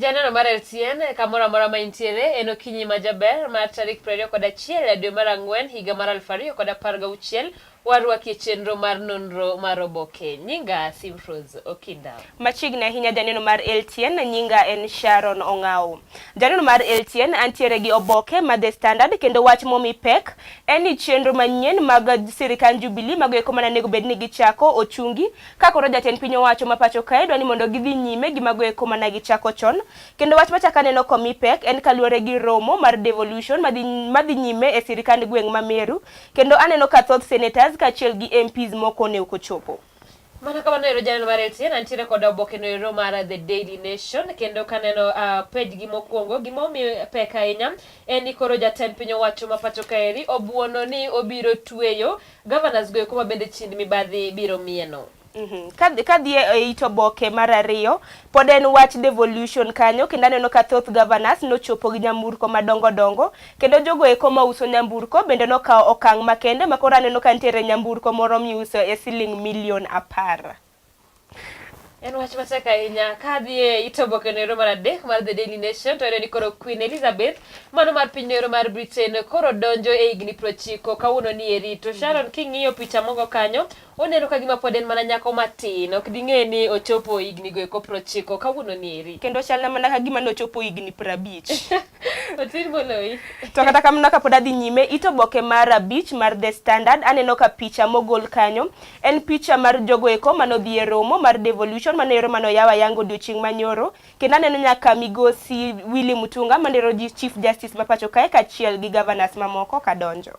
Janeno mar LTN kamoro amora ma intiere en okinyi ma jaber mar tarik piero ariyo kod achiel e dwe mar ang'wen higa mar aluf ariyo kod apar gauchiel Warwaki e chenro mar nonro mar oboke. Nyinga Simfros Okinda. Machiegni ahinya janeno mar LTN, nyinga en Sharon Ong'aw. Janeno mar LTN, antiere gi oboke ma The Standard kendo wach momi pek en ni chenro manyien mag sirikand Jubilee mago eko mana nego bed ni gichako ochungi ka koro jatend piny owacho ma pacho kae dwa ni mondo gidhi nyime gi mago eko mana gichako chon. Kendo wach machaka neno komi pek en kaluwore gi romo mar devolution madhi nyime e sirikand gweng' ma Meru Kendo aneno ka thoth senators kaachiel gi MPs moko ne ok ochopo. Mana kamano ero janeno mar LTN antiere kod oboke no ero mar The Daily Nation kendo kaneno uh, page gi mokwongo gima omiyo pek ahinya en ni koro jatend piny owacho ma pacho kaeri obuono ni obiro tweyo governors go eko ma bende chind mibadhi biro mieno. Mhm. Kadhi e, e it oboke mar ariyo pod en wach devolution kanyo kendo aneno ka thoth governors nochopo gi nyamburko madongo dongo kendo jogo eko ma uso nyamburko bende nokawo okang' makende ma koro aneno ka nitiere nyamburko moro miuso e siling milion apar. En wach matek ahinya ka dhi e it oboke noero mar adek mar The Daily Nation to ni koro Queen Elizabeth mano mar piny noero mar Britain koro donjo e higni prochiko kawuono ni eri to Sharon king'iyo picha mogo kanyo Oneno ka gima pod en mana nyako matin, ok ding'e ni ochopo higni go eko prochiko kawuono ni eri. Kendo chalna mana ka gima nochopo higni prabich. Otin moloyi. To kata kamano kapod adhi nyime, it oboke mar abich mar The Standard, aneno ka picha mogol kanyo en picha mar jogo eko manodhi e romo mar devolution mano ero mano yawa yango odiochieng' manyoro. Kendo aneno nyaka migosi Willy Mutunga mandero ji Chief Justice ma pacho kae kachiel gi governors mamoko kadonjo.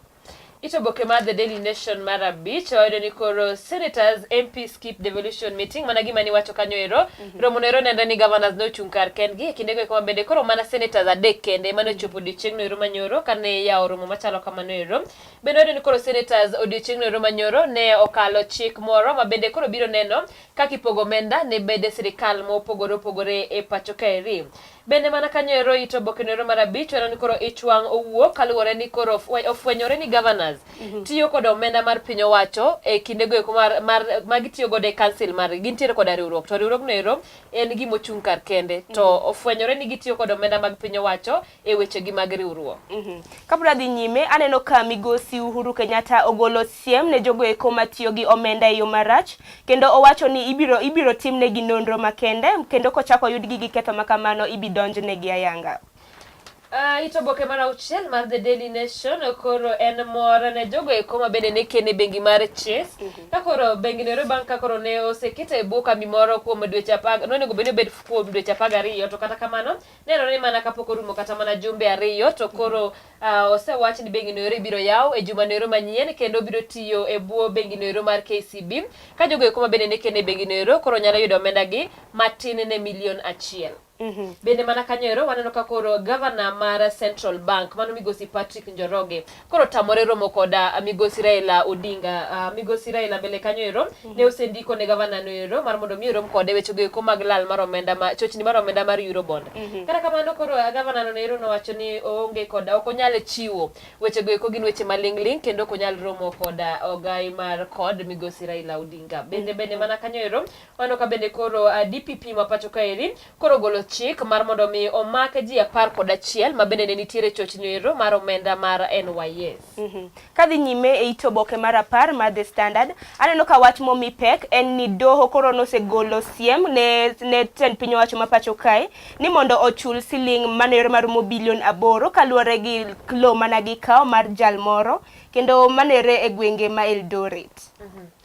Ito boke mar The Daily Nation mar abich wayudo ni koro senators MP skip devolution meeting mana gima niwacho kanyo ero mm -hmm. romo noero nenre ni governors nochung' kar kendgi e kindego eko mabende koro mana senators adek kende mane ochopo odiochieng'no ero manyoro kane yawo romo machalo kamano ero bende wayudo ni koro senators odiochieng'no ero manyoro ne okalo chik moro mabende koro biro neno kaka ipogo omenda ne bede sirikal mopogore opogore e pacho kaeri Bende mana kanyo ero it obokeno ero mar abich waneno ni koro ich wang' owuok kaluwore ni koro ofwe- ofwenyore ni governors tiyo kod omenda mar piny owacho e kindego eko mar, mar, ma gitiyo godo e council margi gintiere koda riwruok to riwruogno ero en gima ochung' kar kende to ofwenyore ni gitiyo kod omenda mag piny owacho e wechegi mag riwruok Mhm. Kapod adhi nyime, aneno ka migosi Uhuru Kenyatta ogolo siem ne jogo eko matiyo gi omenda e yo marach kendo owacho ni ibiro ibiro timnegi nonro makende kendo kochako oyudgi gi ketho ma kamano ibi donjnegi ayanga. Uh, it oboke mar auchiel mar the daily nation koro en mor ne jogo eko ma bende ne kene bengi mar chase mm -hmm. ka koro bengi nero bang' ka koro ne osekete e bwo kambi moro kuom dweche apar nonego bed ni obed kuom dweche apar gariyo to kata kamano nenore ni mana kapok orumo kata mana jumbe ariyo to koro uh, osewach ni bengi noero ibiro yaw e juma noero manyien kendo biro tiyo e bwo bengi noero mar KCB ka jogo eko ma bende ne kene bengi noero koro nyalo yudo omenda gi matin ne milion achiel Mhm. bende mana kanyo ero waneno ka koro gavana mar central bank mano migosi patrick njoroge koro tamore romo koda migosi Raila Odinga. Uh, migosi Raila mbele kanyo ero mm -hmm. ne osendiko ne gavana no ero mar mondo mi orom kode weche go mag lal mar omenda ma chochni mar omenda mar Eurobond. Mm -hmm. Kata kamano koro uh, gavana no ero nowacho ni oonge koda ok onyal chiwo weche go eko gin weche malingling kendo ok onyal romo koda uh, ogai mar kod migosi Raila Odinga. Bende mm -hmm. bende mana kanyo ero Mano ka bende koro DPP ma pacho kaeri koro ogolo chik mar mondo omi omak ji apar kod achiel ma bende ne nitiere chochni ero mar omenda mar NYS. Mm -hmm. Kadhi nyime e it oboke mar apar mar The Standard, aneno ka wach momi pek en ni doho koro nosegolo siem ne, ne tend piny owacho ma pacho kae ni mondo ochul siling mano ero marumo bilion aboro kaluwore gi lo mana gi kawo mar jal moro kendo mano ere e gwenge ma Eldoret. Mm -hmm.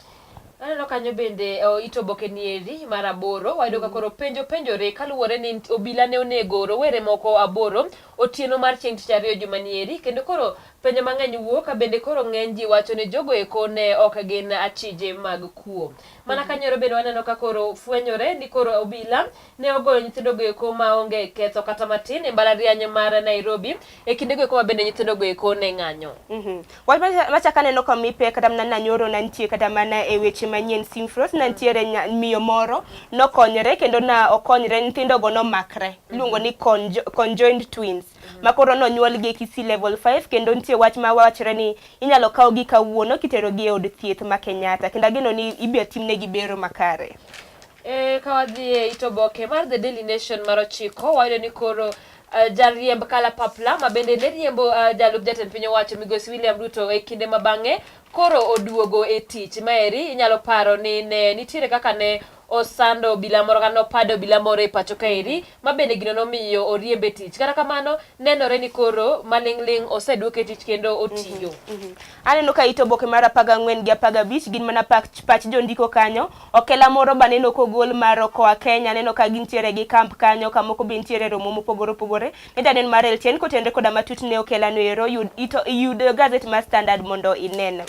Aneno kanyo bende o, it oboke ni eri mar aboro wayudo ka koro penjo penjore kaluwore ni nit- obila ne onego rowere moko aboro otieno mar chieng' tich ariyo juma ni eri kendo koro penjo mang'eny wuok ka bende koro ng'eny ji wacho ni jogo eko ne ok gin achije mag kuo. Mana kanyoro bende waneno ka koro fwenyore ni koro obila ne ogoyo nyithindogo eko ma onge ketho kata matin e mbalariany mar Nairobi e kindego eko ma bende nyithindogo eko ne ng'anyo. Mm -hmm. Wach machak aneno ka mi pek kata mana nanyoro nantie kata mana e weche manyien Simfros nantiere miyo moro nokonyre kendo na okonyre nyithindogo nomakre iluongo ni conjoined twins mhm. ma koro nonyuolgi e Kisii level 5 kendo nitie wach ma wachre ni inyalo kawgi kawuono kiterogi e od thieth ma Kenyatta kendo ageno ni ibiro timnegi bero makare. E, ka wadhi e it oboke mar The Daily Nation mar ochiko wayudo ni koro uh, jariemb kalapapla ma bende ne riembo uh, jalup jatend piny owacho migosi William Ruto e kinde ma bang'e koro oduogo e tich maeri inyalo paro ni ne nitiere kaka ne osando obila moro kata nopado obila moro e pacho kaeri ma bende gino nomiyo oriembe tich kata kamano nenore ni koro maling'ling' oseduok e tich kendo otiyo mm -hmm. aneno ka ito boke mar apaga ang'wen gi apaga abich gin mana pach, pach jondiko kanyo Okela moro baneno kogol maro koa Kenya, aneno ka gintiere gi camp kanyo, kamoko be ntiere romo mopogore opogore. Ne danen mar LTN kotenre koda matut ne Okela no ero, yud ito yud gazet mar Standard mondo inen.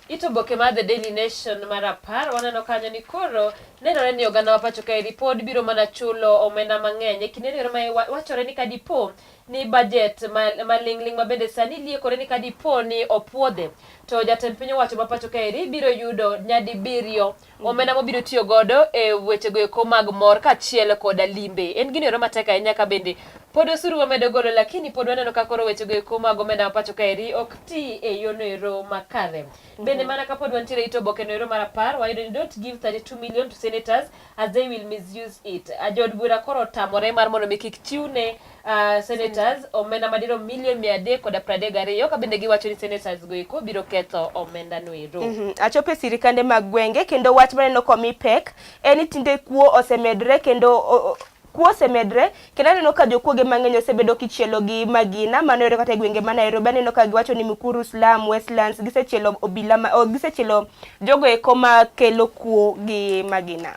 Ito oboke mar The Daily Nation mar apar, waneno kanyo ni koro nenore ni oganda ma pacho kaeri pod biro mana chulo omenda mang'eny e kinde no ero ma wachore ni kadipo ni bajet maling'ling' ma bende sani liekore ni ka dipo ni opuodhe to jatend piny owacho ma pacho kaeri biro yudo nyadibiriyo mm. omenda mobiro tiyo godo e wechego eko mag mor kaachiel koda limbe. En gini ero matek ahinya ka bende pod osuru wamedo golo lakini pod waneno ka koro wechego eko mag omenda ma pacho kaeri ok ti e yono ero makare. Mm-hmm. Bende mana ka pod wantiere ito obokeno ero mar apar wayudo ni don't give 32 million to senators as they will misuse it. Uh, Jood bura koro otamore mar mondo mi kik chiwne uh, senators omenda madirom milion mia adek koda pradek gariyo ka bende giwacho ni senators go eko biro ketho omenda no ero. Mm -hmm. Achope sirikande mag gwenge kendo wach maneno komi pek en ni tinde kuo osemedre kendo o, o, Kuo osemedre kendo aneno ka jokuoge mang'eny osebedo kichielo gi magina mano yore kata e gwenge ma Nairobi aneno ka giwacho ni Mukuru slum Westlands gisechielo obila ma, oh, gisechielo jogo eko ma kelo kuo gi magina.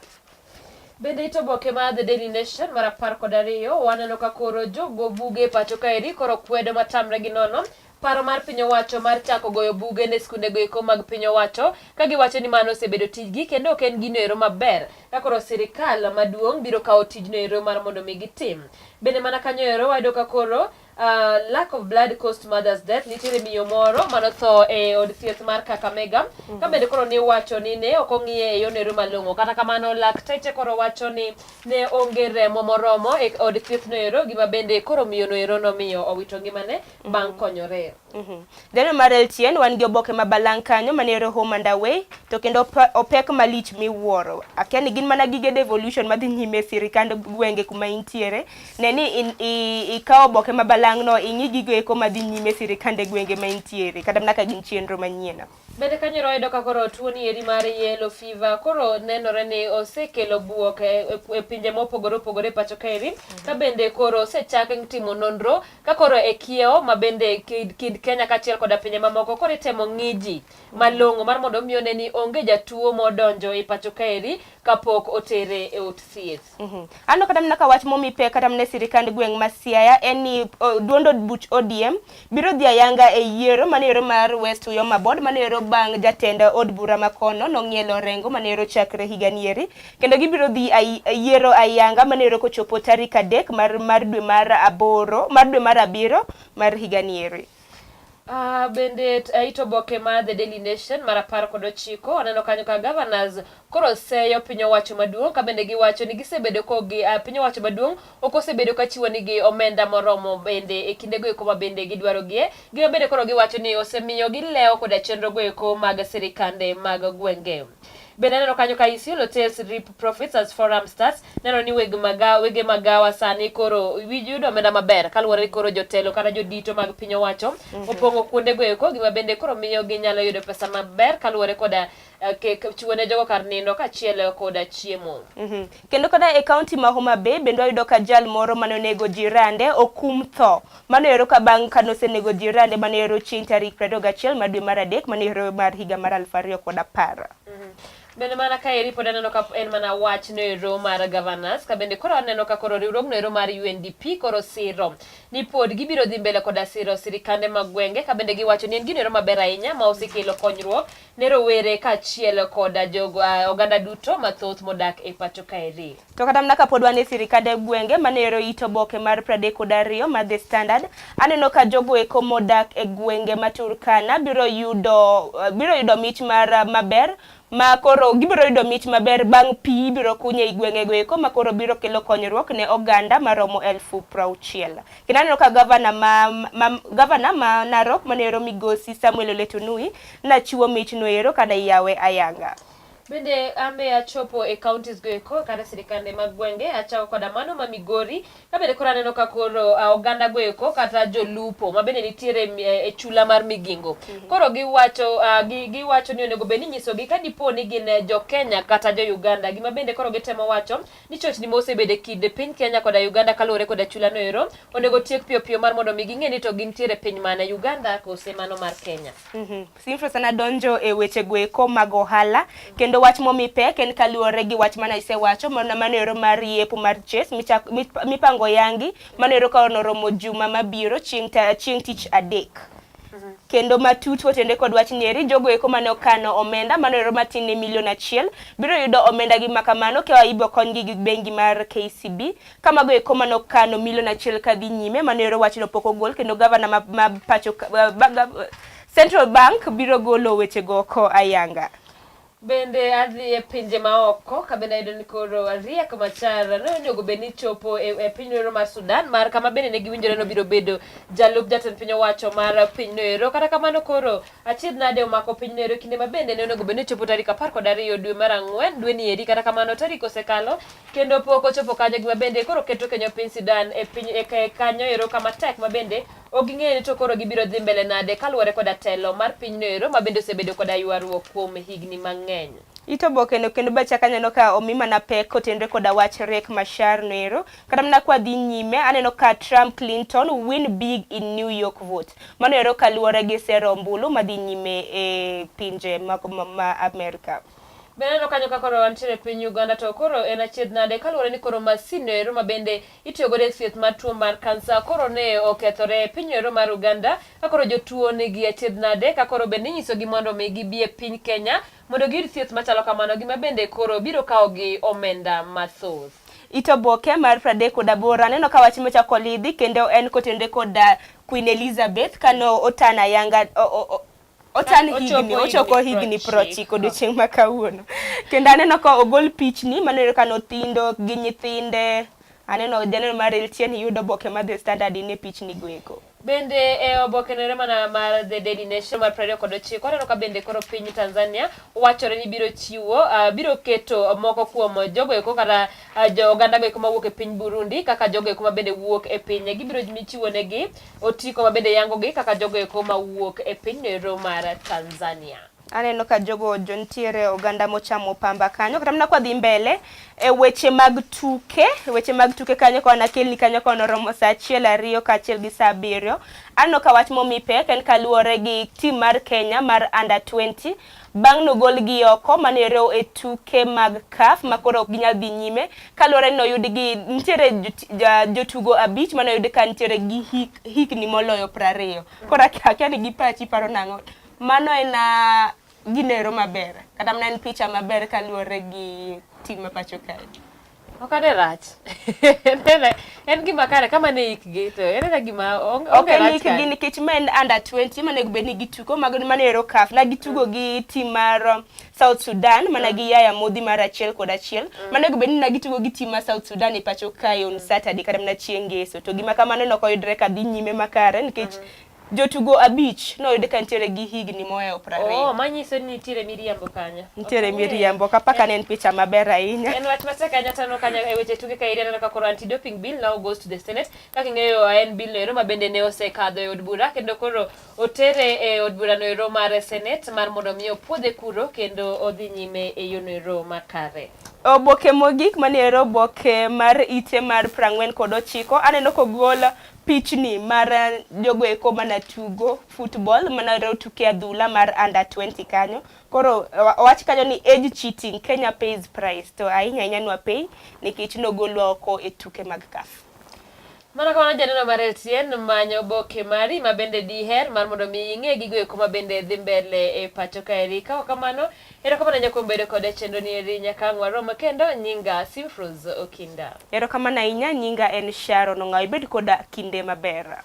Bende ito boke ma The Daily Nation mar apar kod ariyo waneno ka koro jogo buge pacho kaeri koro kwedo matamre gi nono Paro mar piny owacho mar chako goyo buge ne skundego eko mag piny owacho ka giwacho ni mano osebedo tijgi kendo ok en gino ero maber ka koro sirikal maduong' biro kawo tijno ero mar mondo mi gitim. Bende mana kanyo ero wayudo ka koro Uh, lack of blood caused mother's death nitiere miyo moro mano tho e od thieth mar Kakamega mm -hmm. ka bende koro ni wacho ni ne ok ong'iye e yor nero malong'o kata kamano lakteche koro wacho ni ne onge remo moromo e od thieth no ero gima bende koro miyo no ero nomiyo owito ngimane bang' mm. konyore. Mm-hmm. Deno mar Elchien wan gi oboke ma balang' kanyo mane yore home and away to kendo opek malich miwuoro. Akia ni gin mana gige devolution madhi nyime sirikand gwenge kuma intiere. Ne ni ikawo oboke ma balang' no ing'i gigo eko madhi nyime sirikande gwenge ma intiere kata mana ka gin chenro manyien. Bende kanyo royudo ka koro tuo ni eri mar yellow fever koro nenore ni osekelo buok e, e, e pinje mopogore opogore pacho kaeri mhm. ka bende koro osechak timo nonro ka koro e kiewo ma bende kid, kid Kenya kaachiel koda pinje mamoko koro itemo ng'iji mhm. malong'o mar mondo omi one ni onge jatuo modonjo e pacho kaeri kapok otere e od thieth. Mm -hmm. Ano kata mna ka wach momi pek kata mne sirikand gweng' ma Siaya en ni uh, duond od buch ODM biro dhi ayanga e yiero mane yero mar West Uyoma Board mane yero bang' jatend od bura ma kono nong'ielo rengo mane yero chakre higa nieri kendo gibiro dhi ay, yiero ayanga mane yero kochopo tarik adek mar, mar dwe mar aboro mar dwe mar abiro mar higa nieri. Uh, bende aito boke ma The Daily Nation mar apar kod ochiko aneno kanyo ka governors koro seyo piny owacho maduong' ka bende giwacho ni gisebedo ko gi uh, piny owacho maduong' ok osebedo ka chiwo nigi omenda moromo bende e kinde go eko ma bende gidwaro gie gima bende koro giwacho ni osemiyo gilewo koda chenro go eko mag sirikande mag gwenge bende aneno kanyo ka Isiolo tells Rip Profits as Forum Starts neno ni weg magawa wege magawa sani koro wi- yudo omenda maber kaluwore ni koro jotelo kata jodito mag piny owacho opong'o kuondego eko gima bende koro miyo ginyalo yudo pesa maber kaluwore koda eh, ke- ke- chiwo ne jogo kar nindo kaachiel koda chiemo Mhm. kendo kata e kaunti ma Homa Bay bende wayudo ka jal moro mane onego jirande okum tho mano ero ka bang' kane osenego jirande mano ero chieng' tarik 21 mar dwe mar adek mano ero mar higa mar 2010 Bende mana ka eri pod aneno ka en mana wach no ero mar governance ka bende koro aneno ka koro riwruogno ero mar UNDP koro siro ni pod gibiro dhi mbele koda siro sirikande mag gwenge ka bende giwacho ni en gino ero maber ahinya ma osekelo konyruok ne rowere kaachiel koda jogo ah, oganda duto mathoth modak e pacho kaeri. To kata mana kapod wan e sirikande gwenge mane ero it oboke mar pradek kod ariyo mar The Standard, aneno ka jogo eko modak e gwenge ma Turkana biro yudo eh, biro yudo mich mar eh, maber ma koro gibiro yudo mich maber bang' pi ibiro kunye i gwengego eko ma koro biro kelo konyruok ne oganda maromo elfu prauchiel. Kendo aneno ka gavana ma, ma, gavana ma Narok mane ero migosi Samuel Oletunui nachiwo michno ero kada iyawe ayanga. Bende ambe achopo e counties go eko kata sirikande mag gwenge achako koda mano ma Migori ka bende koro aneno ka koro ah, oganda go eko kata jolupo ma bende nitiere mi- eh, e chula mar Migingo koro giwacho ah, gi- giwacho ni onego bed ni inyisogi ka dipo ni gin eh, jo Kenya kata jo Uganda gima bende koro gitemo wacho ni chochni ma osebedo e kind piny Kenya koda Uganda kaluwore koda chula no ero onego tiek piyo piyo mar mondo mi ging'e ni to gintiere piny mane Uganda kose mano mar Kenya. Mhm. Sinfro sana donjo e weche goeko mag ohala kendo wach momi pek en kaluwore gi wach mana isewacho mana manero mar yepo mar chase mipango yangi manero ka onoromo juma mabiro chieng' chieng' tich adek mhm. kendo matut otende kod wach nyeri jogo eko mane okano omenda manero matin ne milion achiel biro yudo omenda gi makamano ka ibo konygi gi bengi mar KCB kamago eko mane okano milion achiel kadhi nyime manero wachno pok ogol kendo gavana ma, ma pacho uh, Central Bank biro golo wechego oko ayanga. Bende adhi e pinje maoko ka bende ayudo ni koro ariek machar nonego bed ni chopo e, e piny noero mar Sudan mar kama bende ne giwinjore nobiro bedo jalup jatend piny owacho mar piny noero. Kata kamano koro achiedh nade omako piny noero e kinde ma bende ne onego bed ni chopo tarik apar kod ariyo dwe mar ang'wen dwe ni eri. Kata kamano tarik osekalo kendo pok ochopo kanyo gima bende koro keto kenyo piny Sudan e piny e kanyo ero kama tek ma bende Ok ging'eyo ni to koro gibiro dhi mbele nade kaluwore koda telo mar pinyno ero ma bende osebedo koda ywaruok kuom higni mang'eny. It oboke no kendo bacha kanyo aneno ka omi mana pek kotenre koda wach Riek Machar no ero. Kata mana kwa dhi nyime aneno ka Trump Clinton win big in New York vote. Mano ero kaluwore gi sero ombulu madhi nyime e pinje ma, ma, ma Amerika. Be aneno kanyo ka koro wantiere piny Uganda to koro en achiedh nade kaluwore ni koro masin no ero ma bende itiyo godo e thieth mar tuo mar kansa koro ne okethore e piny ero mar Uganda ka koro jotuo nigi achiedh nade ka koro bende inyisogi mondo mi gibi e piny Kenya mondo giyud thieth machalo kamano gima bende koro biro kawogi omenda mathoth. It oboke mar pradek kod aboro aneno ka wach mochako olidhi kendo en kotenore kod Queen Elizabeth kano otana yanga o, o, o, ochan higni ochopo higni prochiko odiochieng' ma kawuono kendo aneno ka ogol pichni maneno ka nothindo gi nyithinde aneno janeno mar elchen yudo oboke mar the standard in e pichni goeko bende e oboke nere mana mar the daily nation mar prariyo kod ochiko aneno ka bende koro piny tanzania wachore ni biro chiwo uh, biro keto moko kuom jogoeko kata Ah, jo oganda go eko mawuok e piny Burundi kaka jogo eko mabende wuok e pinye gibiro michiwo negi otiko mabende yangogi kaka jogo eko mawuok e piny Nero mar Tanzania. Aneno ka jogo jo nitiere oganda mochamo pamba kanyo kata mana kwadhi mbele e weche mag tuke weche mag tuke kanyo ka wanakelni kanyo ka wanoromo saa achiel ariyo kaachiel gi saa abiriyo aneno ka wach momi pek en kaluwore gi tim mar Kenya mar under 20 Bang' nogolgi oko mane orew e tuke mag CAF ma koro ok ginyal dhi nyime kaluwore ni noyud gi nitiere jotugo abich mane oyud ka nitiere gi hik, hikni moloyo prariyo. Koro akia ni gi pachi paro nang'o. Mano en ah, ginero maber. Kata mana en picha maber kaluwore gi tim ma pacho kae. Ok ane rach. En gima kare kama ne ikgi to en ena gima onge rach. Ok en ikgi nikech ma en under 20 ma nego bed ni gitugo mago ma ero kaf na gitugo gi tim mar um, South Sudan mana gi yaya modhi mar achiel kod achiel mm. ma nego bed ni na gitugo gi tim mar South Sudan e pacho kae on Saturday kata mana chieng' ngeso to gima kamano ne ok oyudre ka dhi nyime makare nikech mm. Jotugo abich noyud ka nitiere gi higni mohewo piero ariyo. Oh, manyiso ni nitiere miriambo kanyo. Nitiere okay. miriambo ka paka ne en picha maber ahinya. En wach matek ahinya tano kanyo e weche tuke ka irianeno ka koro anti-doping bill now goes to the Senate. Kaka ing'eyo ah, en bill noero ma bende ne osekadho e od bura kendo koro otere e od bura noero mar Senate mar mondo mi opuodhe kuro kendo odhi nyime e yo noero makare. Oboke mogik mane ero oboke mar ite mar prang'wen kod ochiko aneno kogol Pichni mar eh, jogo eko mana tugo football mana reo tuke adhula mar under 20 kanyo. Koro owach kanyo ni age cheating Kenya pays price to ahinya ahinya nwa pay nikech nogolwa oko e tuke mag CAF. Mana kamano janeno mar LTN manyo oboke mari ma bende diher mar mondo mi ing'e gigo eko ma bende dhi mbele e pacho kaeri. Kaok kamano Erokamano nyaka kuom bedo koda e chenro ni eri nyaka ang' warom kendo. Nyinga Simfruz Okinda. Erokamano ahinya, nyinga en Sharon Ong'aw. Ibed koda kinde maber.